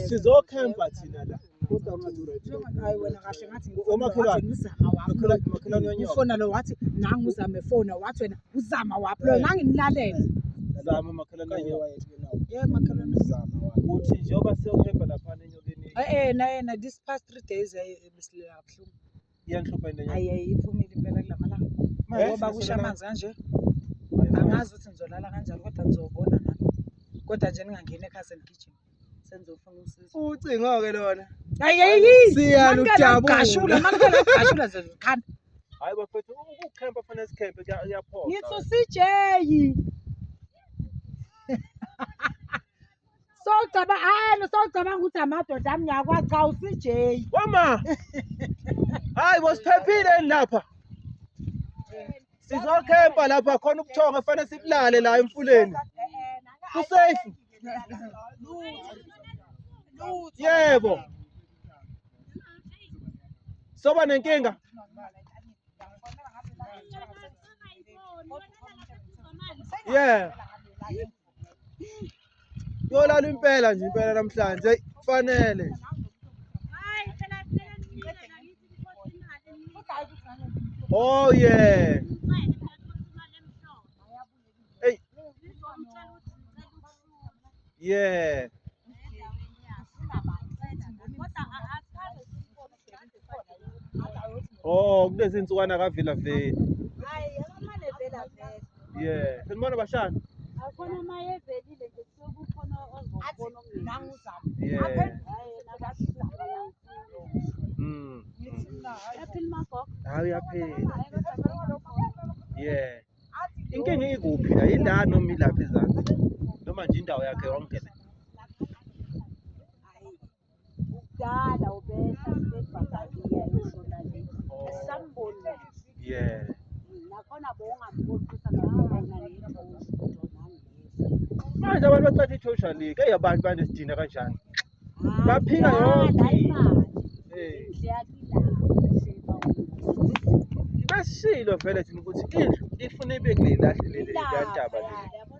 sizokhempa thina la ufona lo wathi nangu uzame fona wathi wena uzama waphi lo nganginilalele zama makhelwane ye makhelwane zama uthi njengoba siyokhempa laphana enyokeni eh, eh na yena eh, this past three days eh, eh, besilela kabuhlungu iyanhlupha into enye ayi iphumile impela kulamalanga Manje ngoba kusha sizosebenza- amanzi kanje Hayi, manje. angazi ukuthi ngizolala kanjani kodwa ngizobona nami kodwa nje ningangeni ekhaya senigijima sengizofuna usizo ucingo-ke lona ayiyi Siyalo ujabula. gashula manikela gashula nje zikhanda hayi bafethu ukukhempa fanele sikhempe kuya- kuyaphoqa ngithi usijeyi Sowucaba hayi sowucabanga ukuthi amadoda ami ngiyakwazi cha uCJ. Wama. Hayi bosiphephile lapha. Sizokhempa lapha khona ubuthongo efanele sibulale la emfuleni. Kusafe. Yebo. Soba nenkinga. Yeah. Yolala impela nje impela namhlanje kufanele. Oh yeah. Hey. Yeah. Oh, kulezi insukwana kavila veli. Hayi, akamane vela vela. Yeah, senibona bashana. Akhona maye velile nje sokukhona ozobona umngeni. Nangizama. Yeah. Hayi, nakasizwa. Mm. Yaphila magogo. Hayi yaphela. Yeah. Inkinga ikuphi la? Yindawo noma ilapha ezansi? Noma nje indawo yakhe yonke le. kudala ubehla sibebhakaliya ishona le asamboni yeah nakhona bowungamboqisa ngabona nethosha manje abantu bacatha ithosha le eyi abantu banesidina kanjani baphika yonke basilo vele thina ukuthi indlu ifuna ibe kule lahle leli yantaba le